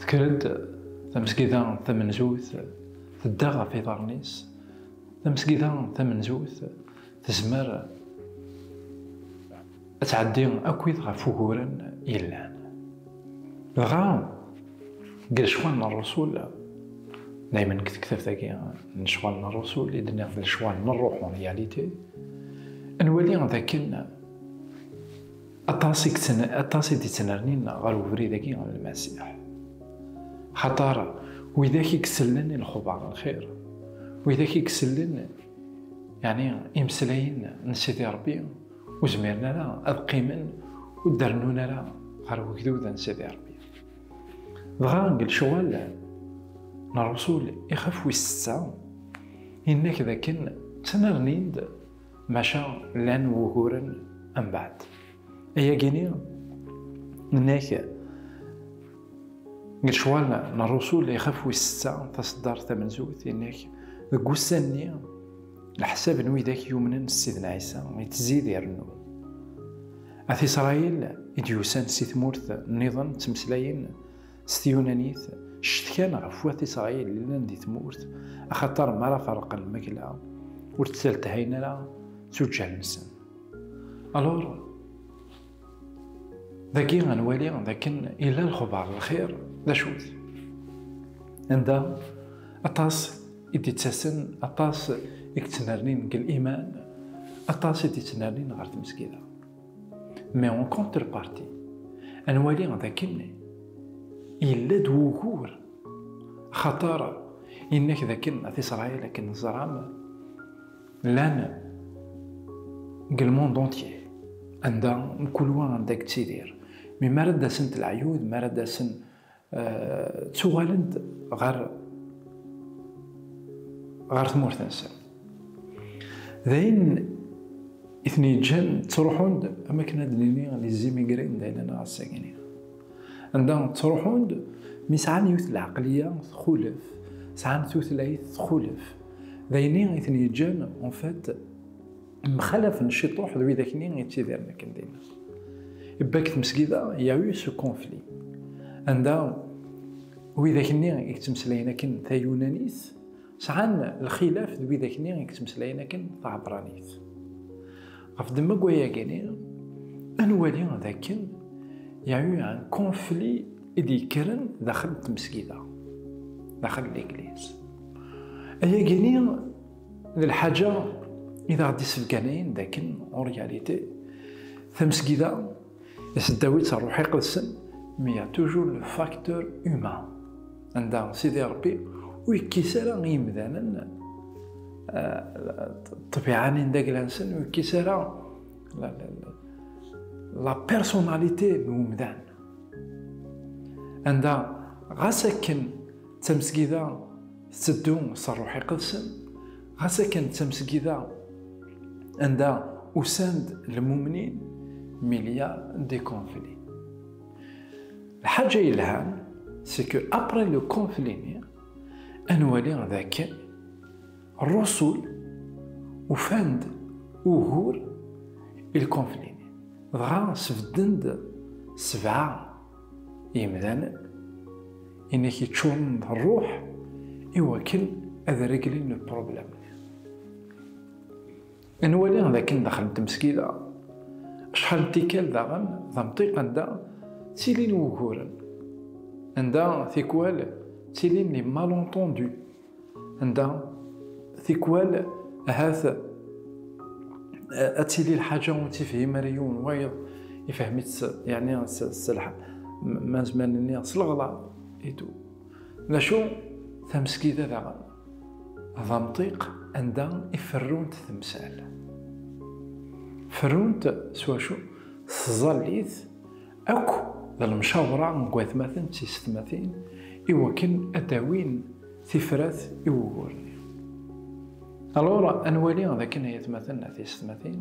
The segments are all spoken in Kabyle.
Tekker-d tamesgida tamenzut, tedda ɣef iḍarren-is. Tamesgida tamenzut tezmer ad tɛeddi akkit ɣef uguren yellan. Dɣa, deg lecɣal n Rrusul, daymen deg tektabt-agi n lecɣal n Rrusul i d-nniɣ d lecɣal n ṛṛuḥ, en réalité, nwali d akken Aṭas i yettn- aṭas i d-ittnernin ɣer ubrid-agi n Lmasiḥ. Xaṭer widak i isellen i lexbar n lxir, widak i isellen yeɛni imeslayen n Sidi Ṛebbi, ur zmiren ara ad qqimen ur d-rennun ara ɣer wegdud n Sidi Ṛebbi. Dɣa deg lecɣal n Ṛṛusul ixef wis setta, yenna-k d akken ttnernin-d maca llan wuguren mbaɛd. Ayagi-ni nnek deg lecɣal n Rrusul ixaf wis setta taṣeddart tamenzut innek deg wussan-nni leḥsab n widak yumnen s Sidna Ɛisa yettzid irennu. At Isṛayil i d-yusan si tmurt nniḍen ttmeslayen S tyunanit, ccetkan ɣef wat Isṛayil llan di tmurt, axaṭer mi ara ferqen lmakla, ur tt-telthayen ara d tuǧǧal-nsen. Alur, dagi ad nwali d akken yella lexbar n lxir d acu-t. Anda aṭas i d-ittasen, aṭas i yettnernin deg liman, aṭas i d-ittnernin ɣer tmesgida. Mais en contrepartie, à nwali dakken yella-d wugur xatar innak dakken at Israël akken ẓram llan deg le monde entier anda mkul wa anda yettidir mi ara d-asent leɛyud mi ara d-asen ttuɣalen-d ɣer ɣer tmurt-nsen d ayen i ten-yeǧǧan ttruḥun-d am akken ad nini les immigrés d ayla neɣ asagni anda ttruḥun-d mi sɛan yiwet lɛaqliya txulef sɛan tutlayt txulef d ayen i ten-yeǧǧan en fait mxalaf n ciṭuḥ d wid akni yettidiren akken dinna. Ibbak tmesgida yawi su konfli. Anda wid akni yettmeslayen akken tayunanit, sɛan lxilaf d wid akni yettmeslayen akken taɛebranit. Ɣef ddemma n wayagi-nni, ad nwali d akken yawi un konfli i d-yekkren daxel n tmesgida, daxel n legliz. Ayagi-nni d lḥaǧa i d aɣ-d-issebganen dakken en réalité tamesgida iseddaw-itt ṛṛuḥ iqedsen mais y a toujours le facteur humain anda Sidi Ṛebbi ur yekkis ara i yimdanen ṭṭbiɛa-nni n dagla-nsen ur yekkis ara la personnalité n umdan anda ɣas akken D tamesgida tetteddu s rruḥ iqedsen, ɣas akken d tamesgida anda usan-d lmumnin milya de conflit. Lḥaǧa yelhan, c'est que après le conflit-nni, ad nwali d akken rrusul ufan-d ugur i lkonfli-nni, dɣa sbedden-d sebɛa Imdanen, i nekk iččuren d rruḥ i wakken ad reglen le problème. Nwali d akken daxel n tmesgida, acḥal n tikkal daɣen d amṭiq anda ttilin wuguren, anda tikwal ttilin les malentendus. anda tikwal ahat ad tili lḥaǧa ur tifhim ara yiwen wayeḍ ifhem-itt yani s lḥal ma nezmer nini s leɣla idu d acu tamesgida daɣen d amṭiq anda i ferrunt temsal ferrunt s wacu s tẓallit akk d lemcawṛa n watmaten d tisetmatin i wakken ad d-awin tifrat i wugur-nni. Alur, ad nwali d akken ay atmaten a tisetmatin,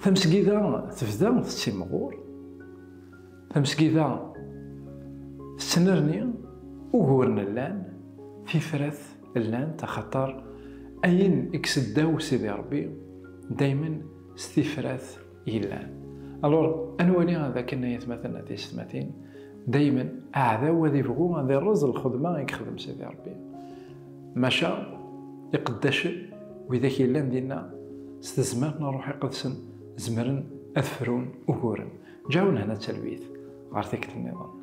tamesgida tebda tettimɣur, tamesgida tettnerni, uguren llan, tifrat llant, axaṭer ayen i iseddaw Sidi Ṛebbi daymen s tifrat yellan alors anwali ad akken ay atmaten ad yesmatin dayma aɛdaw ad ibɣu ad irreẓ lxedma ay yexdem Sidi Rebbi maca iqeddacen widak yellan dinna s tezmert n ṛṛuḥ iqedsen zemren ad frun uguren ǧawen hna talwit ɣer tikkelt niḍen